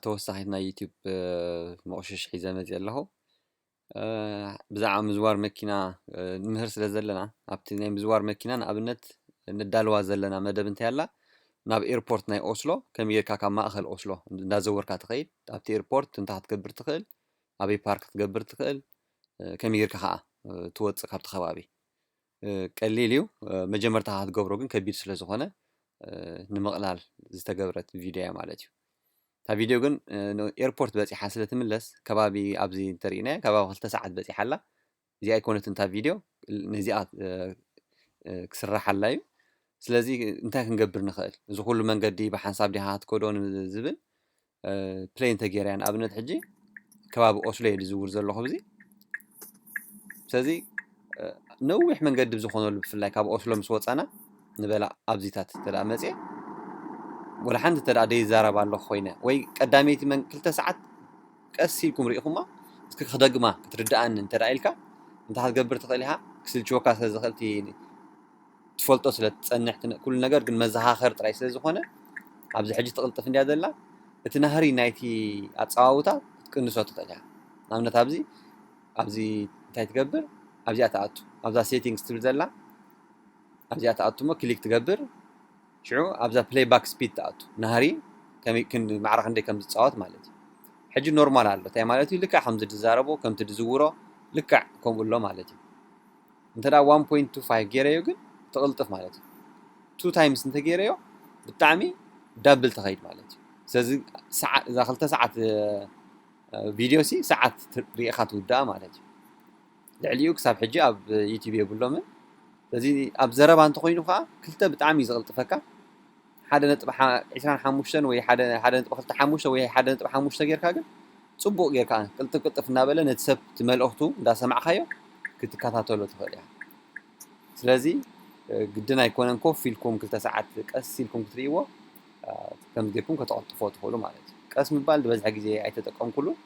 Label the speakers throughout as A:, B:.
A: ተወሳኺት ናይ ዩቲዩብ መቑሽሽ ሒዘ መፅየ ኣለኹ ብዛዕባ ምዝዋር መኪና ንምህር ስለ ዘለና ኣብቲ ናይ ምዝዋር መኪና ንኣብነት ንዳልዋ ዘለና መደብ እንታይ ኣላ ናብ ኤርፖርት ናይ ኦስሎ ከመይ ጌርካ ካብ ማእኸል ኦስሎ እንዳዘወርካ ትኸይድ ኣብቲ ኤርፖርት እንታይ ክትገብር ትኽእል ኣበይ ፓርክ ክትገብር ትኽእል ከመይ ጌርካ ከዓ ትወፅእ ካብቲ ከባቢ ቀሊል እዩ መጀመርታ ክትገብሮ ግን ከቢድ ስለ ዝኾነ ንምቕላል ዝተገብረት ቪድዮ እያ ማለት እዩ እታ ቪድዮ ግን ኤርፖርት በፂሓ ስለ ትምለስ ከባቢ ኣብዚ እንተርኢናያ ከባቢ ክልተ ሰዓት በፂሓ ኣላ እዚኣ ኣይኮነትን እታ ቪድዮ ነዚኣ ክስራሓላ እዩ ስለዚ እንታይ ክንገብር ንኽእል እዚ ኩሉ መንገዲ ብሓንሳብ ዲኻ ክትከዶ ዝብል ፕለይ እንተገይረ እያ ንኣብነት ሕጂ ከባቢ ኦስሎ እየ ዝዝውር ዘለኹ ብዚ ስለዚ ነዊሕ መንገዲ ብዝኾነሉ ብፍላይ ካብ ኦስሎ ምስ ወፃና ንበላ ኣብዚታት እንተ መፅየ ወላ ሓንቲ እንተ ደይዛረብ ኣለኹ ኮይነ ወይ ቀዳመይቲ መን ክልተ ሰዓት ቀስ ኢልኩም ርኢኹማ እስኪ ክደግማ ክትርድኣኒ እንተ ኢልካ እንታይ ክትገብር ትኽእል ኢኻ ክስልችወካ ስለ ዝኽእል ትፈልጦ ስለ ትጸንሕ ትነ ኩሉ ነገር ግን መዘኻኸሪ ጥራይ ስለ ዝኾነ ኣብዚ ሕጂ ትቕልጥፍ እንድያ ዘላ እቲ ናህሪ ናይቲ ኣጸዋውታ ክትቅንሶ ትኽእል ኢኻ ንኣብነት ኣብዚ ኣብዚ እንታይ ትገብር ኣብዚኣ ትኣቱ ኣብዛ ሴቲንግስ ትብል ዘላ ኣብዚኣ ትኣቱ እሞ ክሊክ ትገብር ሽዑ ኣብዛ ፕሌይ ባክ ስፒድ ትኣቱ ናህሪ ከመይ ክንዲ ማዕረ ክንደይ ከም ዝጻወት ማለት እዩ ሕጂ ኖርማል ኣሎ እንታይ ማለት እዩ ልክዕ ከምዚ ድዛረቦ ከምቲ ድዝውሮ ልክዕ ከምኡ ኣሎ ማለት እዩ እንተ ደኣ ዋን ፖይንት ቱ ፋይቭ ጌረዮ ግን ትቕልጥፍ ማለት እዩ። ቱ ታይምስ እንተ ጌረዮ ብጣዕሚ ዳብል ትኸይድ ማለት እዩ። ስለዚ ሰዓ እዛ ክልተ ሰዓት ቪድዮሲ ሰዓት ት- ርኢኻ ትውድኣ ማለት እዩ። ልዕሊኡ ክሳብ ሕጂ ኣብ ዩቲዩብ የብሎምን። ስለዚ ኣብ ዘረባ እንተኾይኑ ከኣ ክልተ ብጣዕሚ እዩ ዝቕልጥፈካ። ሓደ ነጥቢ ዕስራን ሓሙሽተን ወይ ሓደ ሓደ ነጥቢ ክልተ ሓሙሽተ ወይ ሓደ ነጥቢ ሓሙሽተ ጌርካ ግን ጽቡቕ ጌርካ ቅልጥፍ ቅልጥፍ እናበለ ነቲ ሰብ እቲ መልእኽቱ እንዳሰማዕካዮ ክትከታተሎ ትኽእል ኢኻ። ስለዚ ግድን ኣይኮነን ኮፍ ኢልኩም ክልተ ሰዓት ቀስ ኢልኩም ክትርእይዎ ከምዚ ጌርኩም ከተቐልጥፎ ትኽእሉ ማለት እዩ። ቀስ ምባል ዝበዝሐ ግዜ ኣይተጠቀምኩሉን።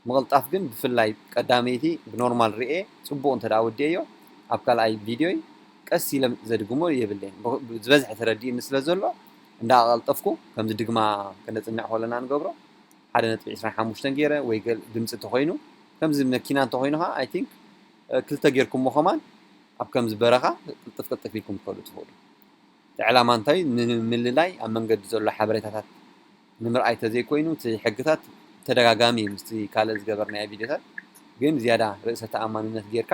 A: ምቕልጣፍ ግን ብፍላይ ቀዳመይቲ ብኖርማል ሪኤ ጽቡቕ እንተ ወዲኤዮ ኣብ ካልኣይ ቪድዮይ ቀስ ኢለ ዘድግሞ የብለይን ዝበዝሐ ተረዲኡኒ ስለ ዘሎ እንዳ ኣቐልጠፍኩ ከምዚ ድግማ ከነጽንዕ ኮለና ንገብሮ ሓደ ነጥቢ ዕስራን ሓሙሽተን ጌረ ወይ ገል ድምጺ እንተ ኮይኑ ከምዚ መኪና እንተ ኮይኑ ከኣ ኣይ ቲንክ ክልተ ጌርኩሞ ከማን ኣብ ከምዚ በረኻ ቅልጥፍ ቅልጥፍ ኢልኩም ትኸዱ ትኽእሉ እቲ ዕላማ እንታይ ንምልላይ ኣብ መንገዲ ዘሎ ሓበሬታታት ንምርኣይ ተዘይኮይኑ እቲ ሕግታት ተደጋጋሚ እዩ ምስቲ ካልእ ዝገበርናዮ ቪድዮታት ግን ዝያዳ ርእሰ ተኣማንነት ጌርካ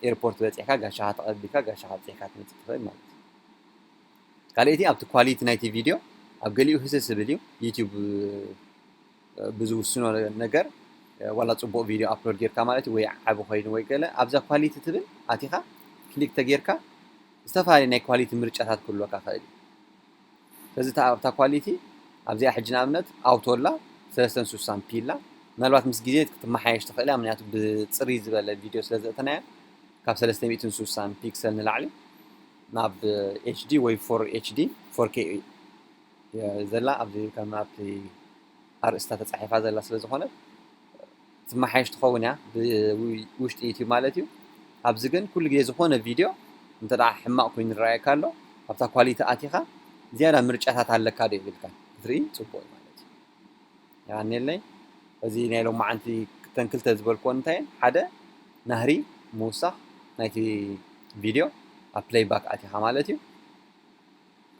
A: ኤርፖርት በጺሕካ ጋሻኻ ተቐቢልካ ጋሻኻ ኣብጺሕካ ትመጽእ ትኽእል ማለት እዩ። ካልኣይቲ ኣብቲ ኳሊቲ ናይቲ ቪድዮ ኣብ ገሊኡ ህስስ ዝብል እዩ ዩቲዩብ ብዝውስኖ ነገር ዋላ ጽቡቕ ቪድዮ ኣፕሎድ ጌርካ ማለት እዩ ወይ ዓቢ ኮይኑ ወይ ገለ ኣብዛ ኳሊቲ ትብል ኣቲኻ ክሊክ ተጌርካ ዝተፈላለዩ ናይ ኳሊቲ ምርጫታት ክህልወካ ክእል እዩ ስለዚ እታ ኣብታ ኳሊቲ ኣብዚኣ ሕጂ ንኣብነት ኣውቶ ኣላ ሰለስተን ሱሳን ፒ ኣላ ምናልባት ምስ ግዜ ክትመሓየሽ ትኽእል እያ ምክንያቱ ብጽርይ ዝበለ ቪድዮ ስለ ዘእተናያ ካብ ሰለስተ ሚእትን ሱሳን ፒክሰል ንላዕሊ ናብ ኤችዲ ወይ ፎር ኤችዲ ፎር ኬ ዘላ ኣብዚ ከም ኣብቲ ኣርእስታ ተጻሒፋ ዘላ ስለ ዝኾነት ትማሓየሽ ትኸውን እያ ብውሽጢ ዩቱብ ማለት እዩ ኣብዚ ግን ኩሉ ግዜ ዝኾነ ቪድዮ እንተ ሕማቕ ኮይኑ ይረኣየካ ኣሎ ኣብታ ኳሊቲ ኣቲኻ ዝያዳ ምርጫታት ኣለካ ዶ ይብልካ ክትርኢ ፅቡቕ እዩ ማለት እዩ የቀኔለይ እዚ ናይ ሎማዓንቲ እተን ክልተ ዝበልክወን እንታይ እየን ሓደ ናህሪ ምውሳኽ ናይቲ ቪድዮ ኣብ ፕለይ ባክ ኣቲኻ ማለት እዩ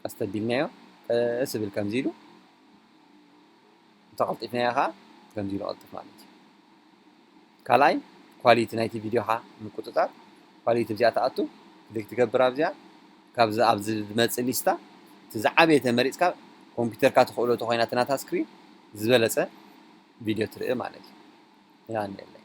A: ቀስ ተቢልናዮ ቀስ ብል ከምዚ ኢሉ እንተቐልጢፍናዮ ኸኣ ከምዚ ኢሉ ይቐልጥፍ ማለት እዩ። ካልኣይ ኳሊቲ ናይቲ ቪድዮኻ ምቁጽጻር ኳሊቲ ኣብዚኣ ትኣቱ ክሊክ ትገብር ኣብዚኣ ካብዚ ኣብዚ ዝመጽእ ሊስታ እቲ ዝዓበየ ተመሪጽካ ኮምፒውተርካ ትኽእሎ ተኾይና እቲ ናታ ስክሪን ዝበለጸ ቪድዮ ትርኢ ማለት እዩ። ይሃንየለይ።